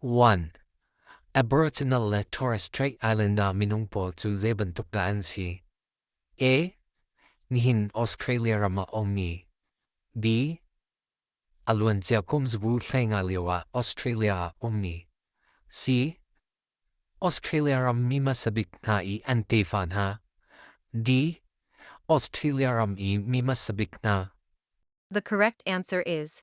1. Aboriginal le Torres Strait Islander minung pawl cu zeibantuk dah an si? A. Nihin Australia ram ah ummi. B. A luancia kum zabu hleinga lio ah Australia ah ummi. C. Australia ram mi hmasabik hna i an tefa hna. D. Australia ram i mi hmasabik hna. The correct answer is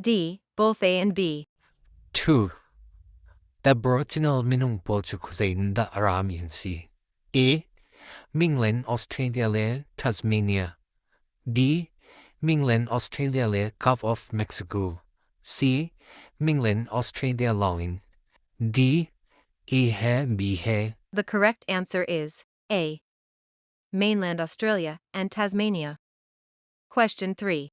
D. Both A and B. 2. Aboriginal minung pawl cu khuazeiin dah a rami an si? A. Minglen Australia le Tasmania B. Minglen Australia le Gulf of Mexico C. Minglen Australia lawngin D. A he B he The correct answer is A. Mainland Australia and Tasmania. Question 3.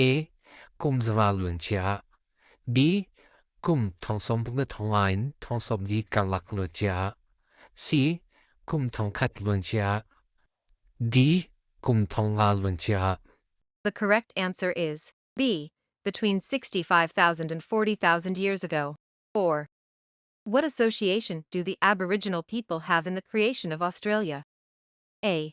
A. Kum zava luancia B. Kum thong sawm pung le thong in thong sawm di karlak luancia C. Kum thong khat luancia D. Kum thong nga luancia The correct answer is B. Between 65,000 and 40,000 years ago. 4. What association do the Aboriginal people have in the creation of Australia? A.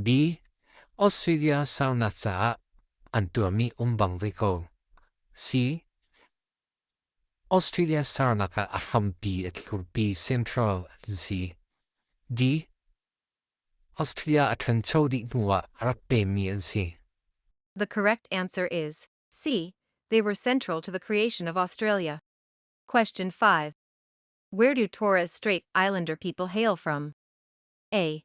B. Australia salnak caah an tuahmi um bang ve ko. C. Australia salnak ah a hrampi a thlurpi central an si. D. Australia a ṭhancho dih hnuah a rak pemi an si. The correct answer is C. They were central to the creation of Australia. Question 5. Where do Torres Strait Islander people hail from? A.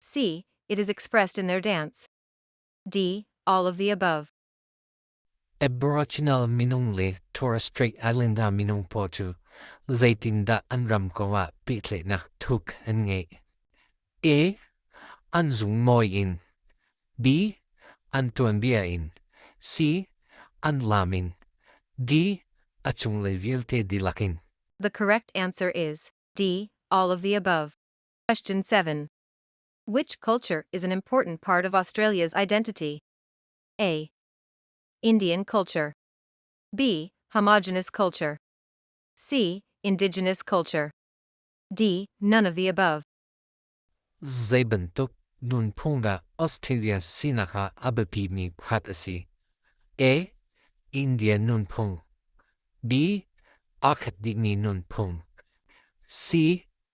C. It is expressed in their dance. D. All of the above. Aboriginal minung le Torres Strait Islander minung paw cu zeitindah an ram ko ah pehtlaihnak thuk an ngei. A. An zung mawi in. B. An tuanbia in. C. An lam in. D. A cunglei vialte dilakin. The correct answer is D. All of the above. Question 7. Which culture is an important part of Australia's identity? A. Indian culture. B. Homogenous culture. C. Indigenous culture. D. None of the above. Zeibantuk nunphung da Australia sinak ha abapi mi khat asi. A. Indian nunphung. B. Akhat dikmi nunphung. C.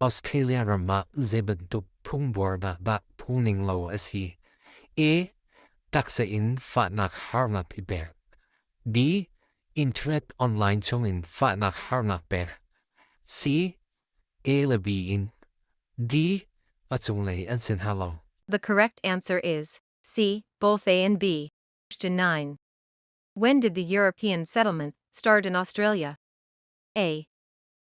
Australia ram ah zeibantuk phungbuarnak dah phungning lo a si? A. Taksa in fahnak harnak i pek. B. Internet online chungin fahnak harnak pek. C. A le B in. D. A cunglei an sin ha lo. The correct answer is C. Both A and B. Question 9. When did the European settlement start in Australia? A.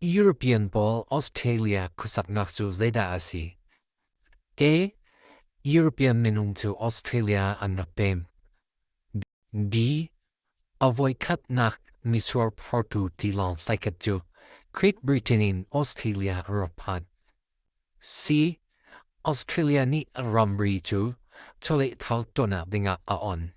European pawl Australia khuasaknak cu zeidah a si? A. European minung cu Australia an rak pem. B. A voikhatnak misual phortu tilawng thlaikhat cu Great Britain in Australia a rak phan. C. Australia nih ramri cu chawlehthal tonnak dingah a on.